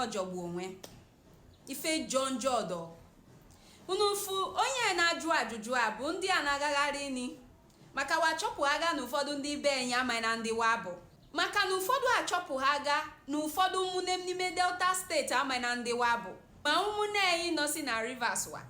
ọjọgbu onwe ife jọ njọ ọdọ unu fụ onye na-ajụ ajụjụ a bụ ndị a na-agagharị ni maka wa achọpụhaga na ụfọdụ ndị be enyi amaina ndị wa bụ maka na ụfọdụ achọpụhaga na ụfọdụ ụmụnne m n'ime delta steeti amaina ndị wa bụ ma ụmụnne anyị nọsị na rivers wa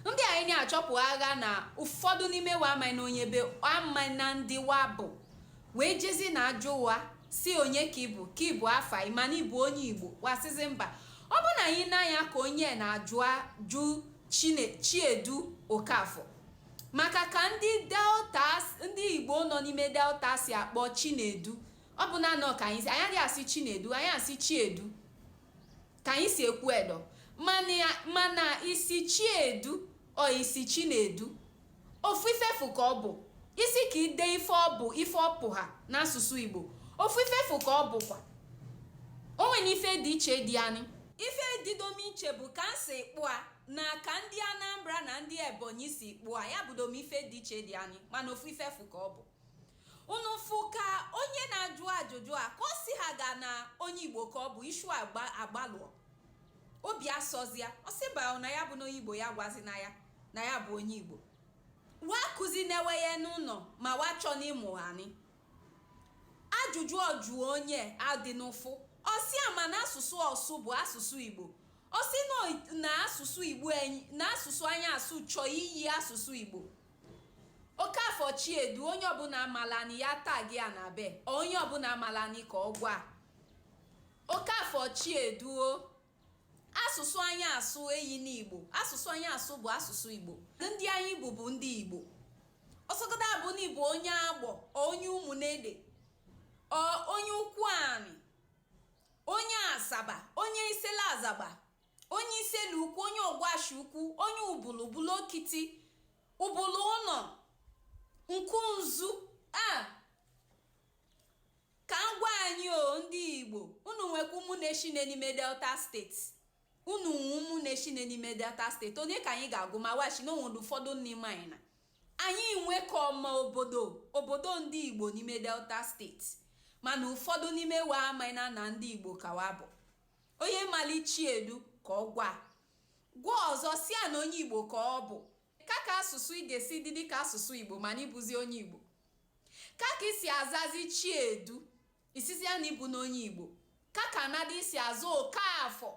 ndị anyị ni achọpụhaga na ụfọdụ n'ime wa amaina onye be amana ndị wa bụ wee jezi na-ajụ wa sị onye ka ị bụ ka ịbụ afa ị ma na ị bụ onye igbo wa sịzi mba ọ bụ na anyị n'anya ka onye na-ajụ ajụ chine chiedu okafọ maka ka ndị delta ndị igbo nọ n'ime delta si akpọ chinedu ọ bụna nọ ka anyị si anyị adịghị asị chinedu anyị asị chiedu Ka anyị si ekwu edo mana ị sị chi edu or ị sị chi na-edu ofu ife fụ ka ọ bụ ị sị ka i de ife ọ bụ ife ọ pụha n'asụsụ Igbo ofu ife fụ ka ọ bụkwa o nwene ife dị iche dị anyị ife didom iche bụ ka m si kpụa na ka ndị Anambra na ndị Ebonyi si kpụa ya bụdom ife dị iche dị anyị mana ofu ife fụ ka ọ bụ unu fụ ka onye na-ajụ ajụjụ akọsịhaga na onye igbo ka ọ bụ ishu agbalụọ obi asọzia ọ sị mba na ya abụna onye igbo ya gwazi na ya na ya bụ onye igbo wa kụzi na-ewe ya n'ụlọ ma wa chọ n'ịmụ anyị ajụjụ ọ jụ onye adị n'ụfụ ọ sị ama na asụsụ ọ sụ bụ asụsụ igbo ọ sị na asụsụ igbo na asụsụ anyị asụ chọọ iyi asụsụ igbo Okafọ Chiedu onye ọbụna amalani ya tag ya na be or onye ọbụna amalani ka ọ gwa Okafọ Chiedu o asụsụ anyị asụ eyina Igbo asụsụ anyị asụ bụ asụsụ Igbo ndị anyị bụ bụ ndị Igbo ọ sọgodu abụ na ị bụ onye Agbọ or onye Ụmụnede or onye Ukwuani onye Asaba onye Isele Azagba onye isele ukwu onye ọgwashi ukwu onye ubulu ubulu okiti ubulu ụnọ ukwunzu a ka m gwa anyị o ndị igbo unu nwekwa ụmụnne shinne n'ime delta steeti unu nwe ụmụnne shinne n'ime delta steeti onye ka anyị ga-agụ ma washi na o nwere ụfọdụ n'ime anyị na anyị nwekọma obodo obodo ndị igbo n'ime delta steeti mana ụfọdụ n'ime wa amaina na ndị igbo ka wa bụ Onye mali Chiedu ka ọ gwa. Gwa ọzọ sị ya na onye Igbo ka ọ bụ. Ka ka asụsụ ị ga-esi dị dịka asụsụ Igbo mana ị bụzi onye Igbo. Ka ka i si azazị Chiedu ị sịzịa na ị bụna onye Igbo. Ka ka nnadị ị si aza Okafọ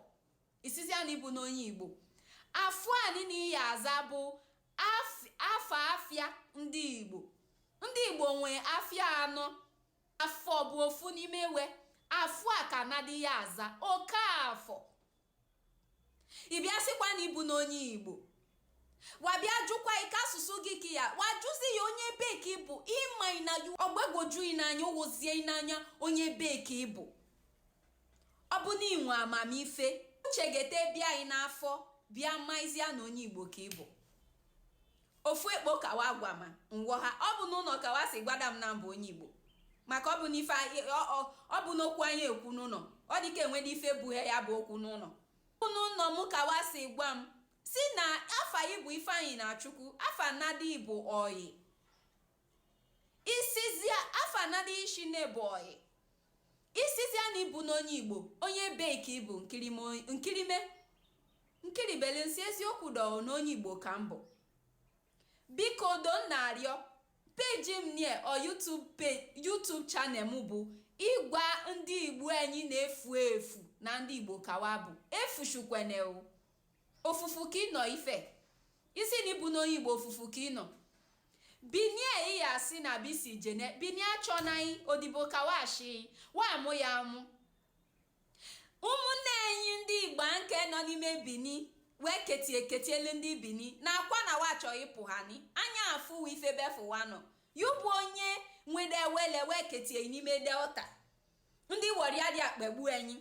ị sịzịa na ị bụna onye Igbo. Afọ a niile ị ya aza bụ af- afa afịa ndị Igbo. Ndị Igbo nwee afịa anọ. Afọ bụ ofu n'ime we afọ a ka nadị ya aza Okafọ ị bịa sịkwa na ịbụ n'onye igbo wa bịa jụkwa ike asụsụ gị ka ya wa jụzia onye ebe ka ịbụ ịma na ọgbagwoju ị n'anya ụwozie ị n'anya onye ebe ka ịbụ ọ bụ na inwe amamife uche ga-ete bịa anyị n'afọ bịa maizia na onye igbo ka ịbụ Ofu ekpo ka wa gwama, ngwọ ha. Ọ bụ n'ụnọ ka wa sị gwada m na m bụ onye Igbo. Maka ọ bụ n'ife ọ bụ n'okwu anyị ekwu n'ụnọ. Ọ dịka enwede ife bughe ya bụ okwu n'ụnọ. Ọ bụ n'ụnọ m ka wa sị gwa m si na afa ị bụ Ifeanyịnachukwu, afa nadị bụ ọyị. Isizia afa nadị ishi na-ebu ọyị. Isizia na ịbụ n'onye Igbo, onye ebe ka ịbụ nkirime. nkiribeli nsị eziokwu dọọ na onye igbo ka m bụ biko don na-arịọ peji m nie ọ YouTube channel m bụ ịgwa ndị igbo anyị na-efu efu na ndị igbo ka wa bụ efuzikwene ofufu ka ịnọ ife isi na ịbụ n'onye igbo ofufu ka ịnọ bini iya si na bisi jene bini achọna ị odibo ka wa shi wa amụ ya amụ ụmụnne anyị ndị igbo nke nọ n'ime bini wee ketie ketielu ndị bini na akwa na wa chọ ịpụ ha ni anya afụ ife befụwa nọ ya bụ onye nwede wele wee ketie n'ime delta ndị Warri adị akpagbu anyị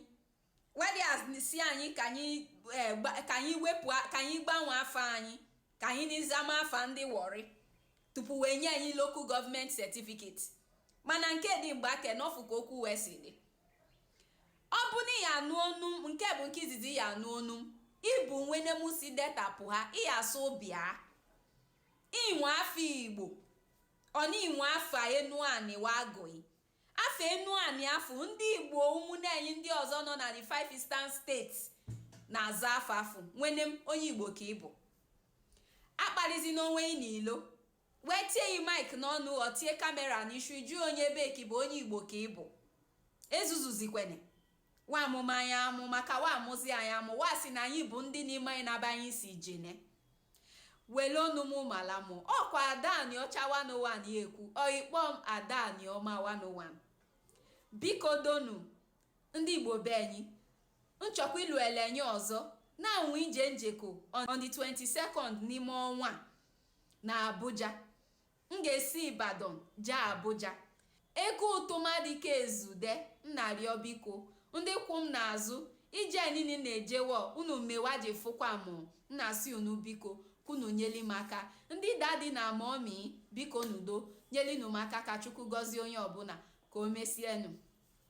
we dị asị anyị ka anyị eh, wepụ ka anyị gbanwee afa anyị ka anyị n'izama afa ndị Warri tupu wee nye anyị local government certificate mana nke dị mgbe ake n'ọfụ ka okwu wee si dị ọ bụ na ịya anụ onu m nke bụ nke izizi ịya anụ onu m ịbụ nwene m si delta pụha ịya asụ bịa inwe afa igbo ọ na inwe afa enuanị wagoi Afa enuanị afa ndị Igbo ụmụnne anyị ndị ọzọ nọ na the five eastern states na-aza afa afa nwene m onye Igbo ka ị bụ akpalịzi n'onwe ị n'ilo wee tie yi mike n'ọnụ ọ tie kamera n'ishu jụọ onye ebe ka ị bụ onye Igbo ka ị bụ ezuzuzikwene wa amụma anyị amụ maka wa amụzi anyị amụ wa si na anyị bụ ndị n'ime anyị na-aba anyị si jene wele onu m mala m ọkwa ada aniọcha 101 ya ekwu or ịkpọ m ada aniọma 101 biko doo nu ndị igbo be anyị nchọkwa ilu elenye ọzọ na nwe ije njeko on the 22nd n'ime ọnwa na abuja M ga-esi Ibadan jee Abuja. Ego ụtụ m adịka ezude, m na-arịọ biko, ndị kwụ m n'azụ, ije niine m na-ejewa unu mewa ji fụkwa mụ, m na-asị unu biko, ka unu nyeli m aka. Ndị daddy na mummy, bikonụ doo, nyelinu m aka ka Chukwu gọzie onye ọbụla. Ka o mesienụ.